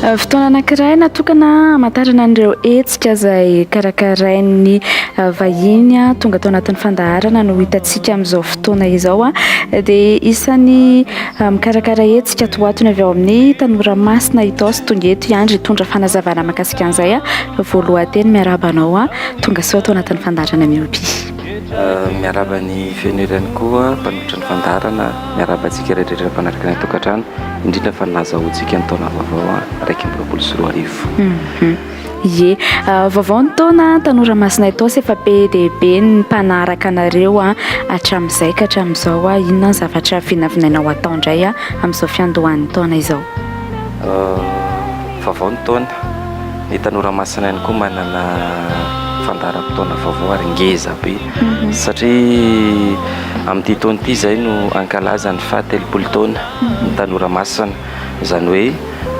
Fotoana anankiray natokana hamantarana an'ireo hetsika izay karakarain'ny vahiny tonga tao anatin'ny fandaharana no hitantsika amin'izao fotoana izao, dia isan'ny mikarakara hetsika tohatony avy ao amin'ny tanora masina Itaosy sy tonga eto i Andry hitondra fanazavana mahakasika an'izay, voalohan-teny miarahaba anao, tongasoa ato anatin'ny fandaharana Myopia. Miarahaba ny feno hery ihany koa mpanolotra ny fandaharana. Miarahaba antsika rehetrarehetra mpanaraka ny atokantrano, indrindra fa ny nazahoantsika ny taona vaovao iraika amby roapolo sy roa arivo. Ie, vaovao ny taona tanora masina Itaosy, efa be dia be ny mpanaraka anareo hatramin'izay ka hatramin'izao. Inona ny zavatra vinavinainao hatao indray amin'izao fiandohan'ny taona izao? Vaovao ny taona. Ny Tanora Masina ihany koa manana fandaharam-potoana vaovao ary ngeza be mhm. satria amin'ity taona ity izay no ankalaza ny faha telopolo taona mhm. ny Tanora Masina izany hoe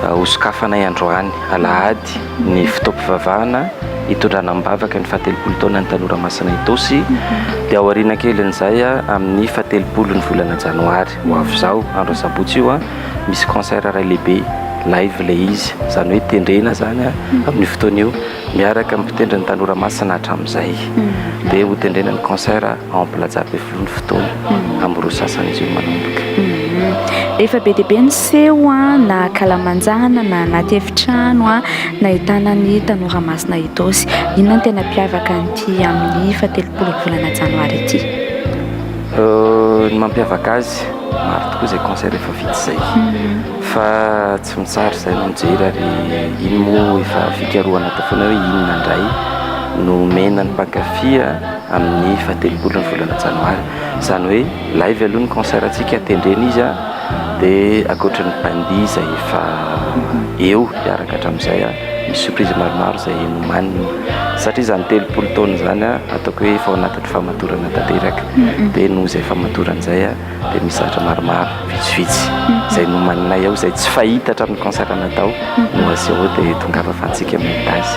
uh, hosokafanay androany alahady ny fotoam-pivavahana hitondrana am-bavaka ny fahatelopolo taona ny Tanora Masina Itosy mhm. dia aoriana kelin'izay uh, amin'ny fahatelopolo ny volana janoary Ho avy izaho andro asabotsy io an, misy concert iray lehibe, live ilay izy, izany hoe tendrena izany amin'io fotoana io, miaraka amin'ny mpitendry ny Tanora Masina hatramin'izay. Dia hotendrena ny concert ao Plaza Befiloha ny fotoana, amin'ny roa sasany izy io manomboka. Efa be dia be ny seho an, na ankalamanjana, na anaty efitrano an, nahitana ny Tanora Masina Ethos. Inona no tena hampiavaka an'ity amin'ny fahatelopolo ny volana janoary ity? Ny mampiavaka azy, maro tokoa izay concert efa vita izay fa tsy mitsara izay no mijery ary iny moa efa fikarohana atao foana hoe inona indray no omena ny mpankafy amin'ny fahatelopolo ny volana janoary, izany hoe live aloha ny concert antsika tendrena izy dia ankoatra ny bandy izay efa eo hiaraka hatramin'izay misy surprise maromaro izay nomaniny satria izany telopolo taona izany ataoko hoe efa ao anaty famadorana tanteraka dia noho izay famadorana izay a dia misy zavatra maromaro vitsivitsy izay nomaninay ao izay tsy fahita hatramin'ny concert natao no aseho dia tongava fa antsika amin'ny tazy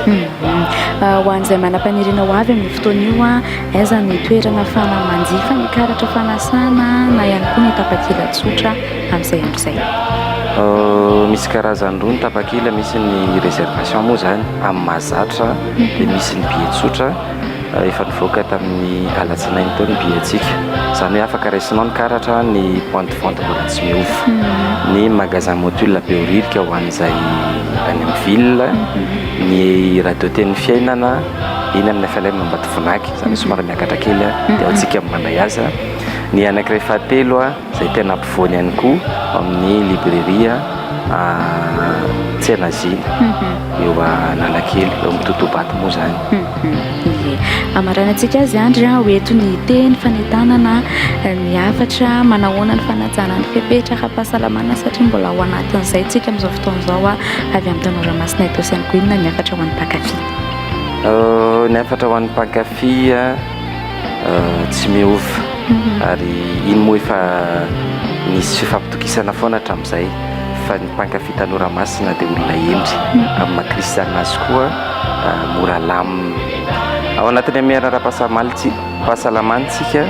ho an'izay manam-paniriana ho avy amin'ny fotoana io a aiza ny toerana fana manjifa ny karatra fanasana na ihany koa ny tapakila tsotra amin'izay amin'izay misy karazany roa ny tapakila misy ny réservation moa izany amin'ny mahazatra dia misy ny billet tsotra efa nivoaka tamin'ny alatsinainy teo ny billet-ntsika, izany hoe afaka raisinao ny karatra ny point de vente mbola tsy miova, ny magasin Motul Behoririka ho an'izay any amin'ny ville, ny radio Teny Fiainana eny amin'ny FLM Ambatovonaky, izany hoe somary miakatra kely dia ao Tsikambo Manaihaza, ny anankiray fahatelo. izay tena ampovoany ihany koa ao amin'ny librairie Tsenazina eo Analakely, eo amin'ny Totobato moa izany. Ie, hamaranantsika azy Andry an, ho eto ny teny fanentanana ny hafatra manahoana ny fanajana ny fepetra ara-pahasalamana satria mbola ao anatin'izay tsika amin'izao fotoana izao an, avy amin'ny tanora masina eto Sainte Gouine ny hafatra ho an'ny mpankafy. Ny hafatra ho an'ny mpankafy an. tsy miova ary iny moa efa nisy fifampitokisana foana hatramin'izay fa ny mpankafy tanora masina dia olona hendry amin'ny maha kristianina azy koa mora lamina ao anatin'ny amiara ara-pahasalamana isika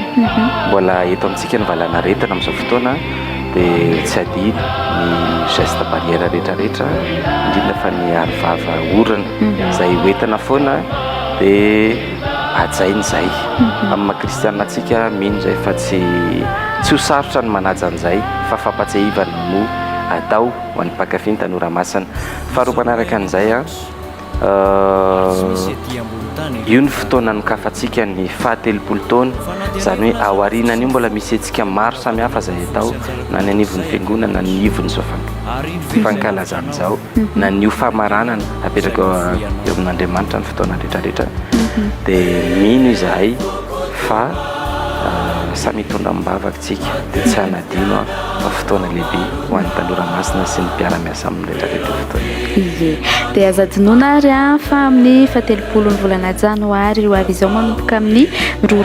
mbola eto amintsika ny valanaretina amin'izao fotoana dia tsy adino ny geste barrière rehetrarehetra indrindra fa ny arivava orana izay hoentina foana dia Hajaina izay. Amin'ny maha kristiana antsika, mino izay fa tsy tsy ho sarotra ny manaja an'izay fa fampatsiahivana no atao ho an'ny mpankafy ny tanora masina. Faharoa manaraka an'izay, io ny fotoana anokafantsika ny fahatelopolo taona, izany hoe ao aorianan'io mbola misy hetsika maro samihafa izay atao na ny anivon'ny fiangonana na ny ivon'izao fankalazana izao. na ny ho famaranana apetraka eo eo amin'Andriamanitra ny fotoana rehetra rehetra dia mino izahay fa samy hitondra am-bavaka tsika dia tsy hanadino fa fotoana lehibe ho an'ny tanora masina sy ny mpiara-miasa amin'ny rehetra rehetra fotoana ie dia aza dinona ary an fa amin'ny fatelopolo ny volana janoary ho avy izao manomboka amin'ny roa